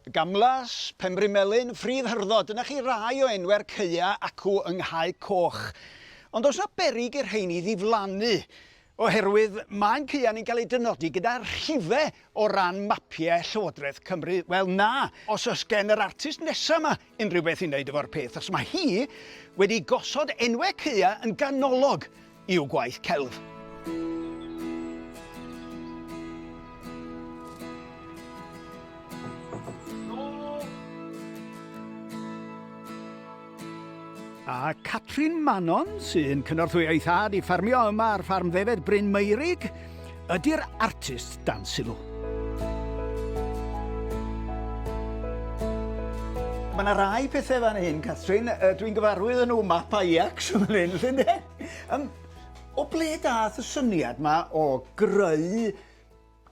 Gamlas, Penbri Melyn, Ffridd Hyrddo, dyna chi rai o enwau'r caeau acw yng Nghae Coch. Ond oes 'na berig i'r rheiny ddiflannu? Oherwydd mae'n caeau ni'n cael eu dynodi gyda rhife o ran mapiau Llywodraeth Cymru? Wel na, os oes gen yr artist nesaf 'ma unrhyw beth i wneud efo'r peth, os mae hi wedi gosod enwau cya yn ganolog i'w gwaith celf. A Catrin Manon, sy'n cynorthwyo ei thad i ffermio yma ar ffarm ddefed Bryn Meurig, Ydy'r artist dan sylw? Mae yna rai pethau fan hyn, Catrin. Uh, Dwi'n gyfarwydd yn nhw map Ajax yn fan hyn, llun de. Um, o ble dath y syniad yma o greu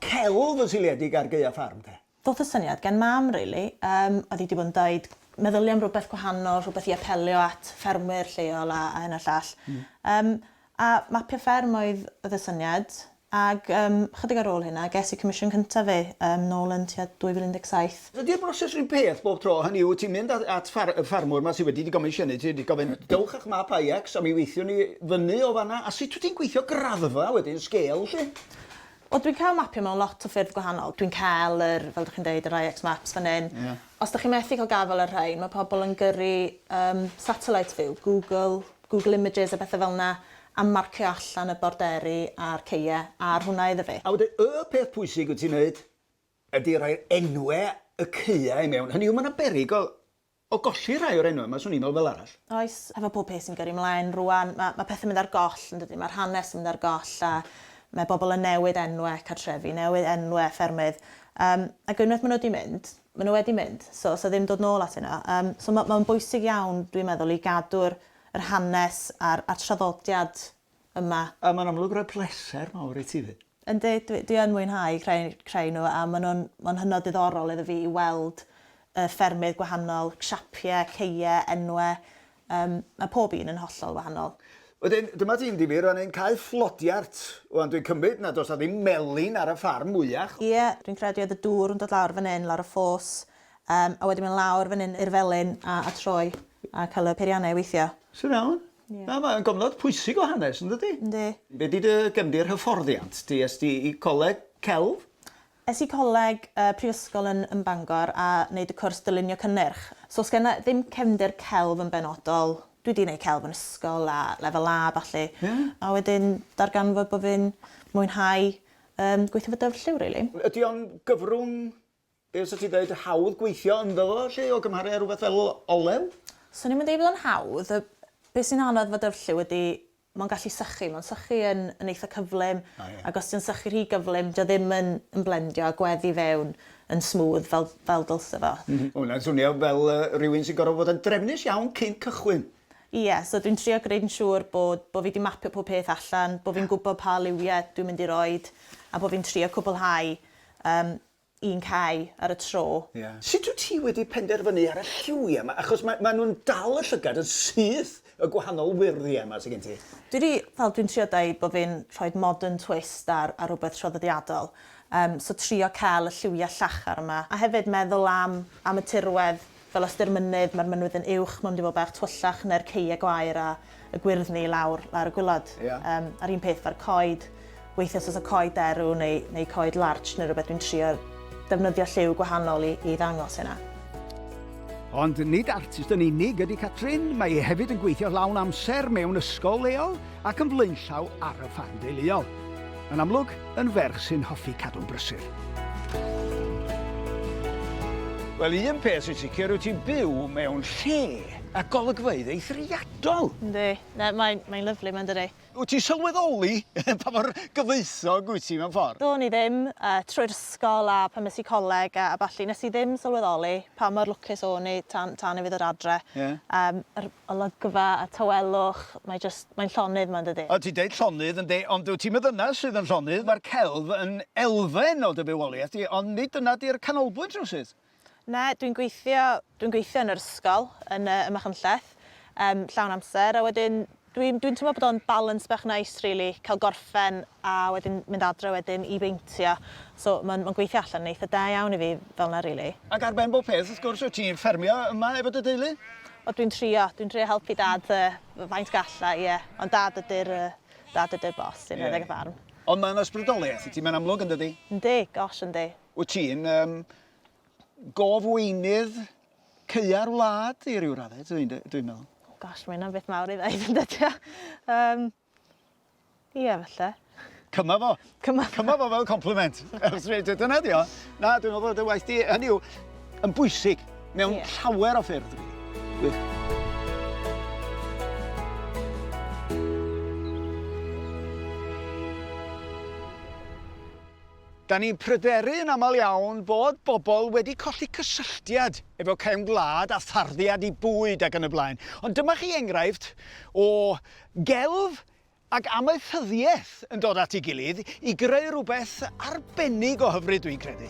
celf yn seiliedig ar Gaea Farm te? Doth y syniad gen mam rili, yym oedd hi 'di bod yn deud meddylia am rywbeth gwahanol, rhywbeth i apelio at ffermwyr lleol a hyn a'r llall. Yym a mapio fferm oedd oedd y syniad ag yym chydig ar ôl hynna ges i comisiwn cyntaf fi yym nôl yn tua 2017. Ydi'r broses run peth bob tro, hynny yw ti'n mynd at ffar- y ffarmwr 'ma sy wedi dy gomisiynu ti, ti'n gofyn dewch â'ch map IX a mi weithiwn ni fyny o fan'na a sut wyt ti'n gweithio graddfa wedyn, sgêl 'lly? Wel dwi'n cael mapio mewn lot o ffyrdd gwahanol. Dwi'n cael yr, fel dych chi'n deud, yr IX maps fan hyn. Ie. Os dych chi methu cael gafael ar rhain, mae pobl yn gyrru yym satellite view, Google, Google Images a bethe fel 'na, a marcio allan y borderi a'r ceue ar hwnna iddo fi. A wedyn y peth pwysig wyt ti'n neud ydy rhoi'r enwe y ceue i mewn. Hynny yw, mae 'na berig o O golli rhai o'r enwau yma, 'swn i'n meddwl, fel arall. Oes, hefo pob peth sy'n gyrru mlaen rwan, ma' ma' pethe'n mynd ar goll, yn dydi? Ma'r hanes yn mynd ar goll a ma' bobl yn newid enwe cartrefi, newid enwe ffermydd, yym ac unwaith ma' nw 'di mynd, ma' nw wedi mynd, so o's 'na ddim dod nôl atyn nw. Yym so ma' ma'n bwysig iawn, dwi'n meddwl, i gadw'r yr hanes a'r a'r traddodiad yma. A ma'n amlwg roi pleser mawr i ti 'fyd. Yndi, dwi, dwi yn mwynhau creu, creu nhw a maen nhw'n ma hynod ddiddorol iddo fi i weld y ffermydd gwahanol, siapiau, ceie, enwau. Um, mae pob un yn hollol wahanol. Wedyn, dyma ti'n difyr fan hyn, cae fflodiart. Wan, dwi'n cymryd nad oes a ddim melin ar y ffarm mwyach. Ie, dwi'n credu oedd y dŵr yn dod lawr fan hyn, lawr y ffos, um, a wedyn mynd lawr fan hyn i'r felin a, a troi a cael y peiriannau i weithio. Sy'n iawn. Ie. Na, mae'n gofnod pwysig o hanes, yn dydi? Yndi. Be di dy gefndir hyfforddiant di? Es di i coleg celf? Es i coleg uh, prifysgol yn, yn Bangor a wneud y cwrs dylunio cynnyrch. So os genna ddim cefndir celf yn benodol, dwi di wneud celf yn ysgol a lefel A falle. Yeah. A wedyn darganfod bod fi'n mwynhau um, gweithio fy dyfrlliw, really. Ydy o'n gyfrwng Be' sa ti'n dweud, hawdd gweithio ynddo fo 'lly o gymharu â rhywbeth fel olew? Swn i'm yn deud bod o'n hawdd. Y... be' sy'n anodd efo dyfrlliw ydi mae'n gallu sychu. Mae'n sychu yn yn eitha cyflym. O ie. Ac os 'di o'n sychu rhy gyflym 'di o ddim yn yn blendio a gwedd i fewn yn smooth fel fel dylse fo. M-hm. Ma' hwnna'n swnio fel yy rywun sy'n gor'o' fod yn drefnus iawn cyn cychwyn. Ie, so dwi'n trio gneud yn siŵr bod bo' fi 'di mapio pob peth allan, bo' fi'n gwbo pa liwie dwi'n mynd i roid a bo' fi'n trio cwbwlhau yym un cae ar y tro. Ie. Sut wyt ti wedi penderfynu ar y lliwiau 'ma? Achos ma' ma' nhw'n dal y llygad yn syth, y gwahanol wyrddie 'ma sy gen ti. Dwi 'di, fel dwi'n trio deud bo' fi'n rhoid modern twist ar ar rwbeth traddodiadol. Yym so trio ca'l y lliwiau llachar 'ma, a hefyd meddwl am am y tirwedd Fel ystyr mynydd, mae'r mynwid yn uwch, mae mynd i fod bach twyllach na'r ceie gwair a y gwyrddni lawr lawr y gwilod. Ia. Yym, a'r un peth fa'r coed. Weithie os oes y coed derw neu neu coed larch neu rhywbeth dwi'n trio defnyddio lliw gwahanol i i ddangos hynna. Ond nid artist yn unig ydy Catrin, mae e hefyd yn gweithio lawn amser mewn ysgol leol, ac yn flaenllaw ar y ffarm deuluol. Yn amlwg, yn ferch sy'n hoffi cadw'n brysur. Wel, un peth sy'n sicr, wyt ti'n byw mewn lle a golygfeydd eithriadol. Yndi, na, mae'n mae lyflu, mae'n dydi. Wyt ti'n sylweddoli pa mor gyfoethog wyt ti mewn ffordd? Do'n i ddim, uh, trwy'r ysgol a pan nes i coleg a, a balli, nes i ddim sylweddoli pa mor lwcus o'n i tan, tan i fi ddod adre. Yeah. Um, Olygfa a tawelwch, mae jyst, mae'n llonydd 'ma yndydi? O ti'n deud llonydd ynde, ond dwyt ti'm yn ddynas sydd yn llonydd, mae'r celf yn elfen o dy fywoliaeth di, ond nid dyna di'r canolbwynt rywsut. Na, dwi'n gweithio, dwi'n gweithio yn yr ysgol, yn y, ym Machynlleth, yym, llawn amser, a wedyn dwi'n, dwi'n teimlo bod o'n balance bach neis rili, cael gorffen a wedyn mynd adre wedyn i beintio so ma'n ma'n gweithio allan yn eitha da iawn i fi fel 'na rili. Ac ar ben bob peth wrth gwrs wyt ti'n ffermio yma efo dy deulu? O dwi'n trio, dwi'n trio helpu dad yy faint galla i ie ond dad ydi'r yy dad ydi'r boss sy'n rhedeg y ffarm. Ond ma'n ysbrydolieth i ti mae'n amlwg yndydi? Yndi, gosh yndi. Wyt ti'n yym gof-weinydd caeau'r wlad i ryw radde dwi dwi'n meddwl. Gosh ma' hynna'n beth mawr i ddeud yndydi o? Yym. Ie, falle. Cyma fo. Cyma. Cyma fo fel compliment. Dyna di o. Na, dwi'n meddwl bod y waith di, hynny yw, yn bwysig mewn yeah. llawer o ffyrdd. Gwych. Da ni'n pryderu yn aml iawn bod bobl wedi colli cysylltiad efo cefn gwlad a tharddiad i bwyd ac yn y blaen. Ond dyma chi enghraifft o Gelf ac amaethyddiaeth yn dod at ei gilydd i greu rhywbeth arbennig o hyfryd dwi'n credu.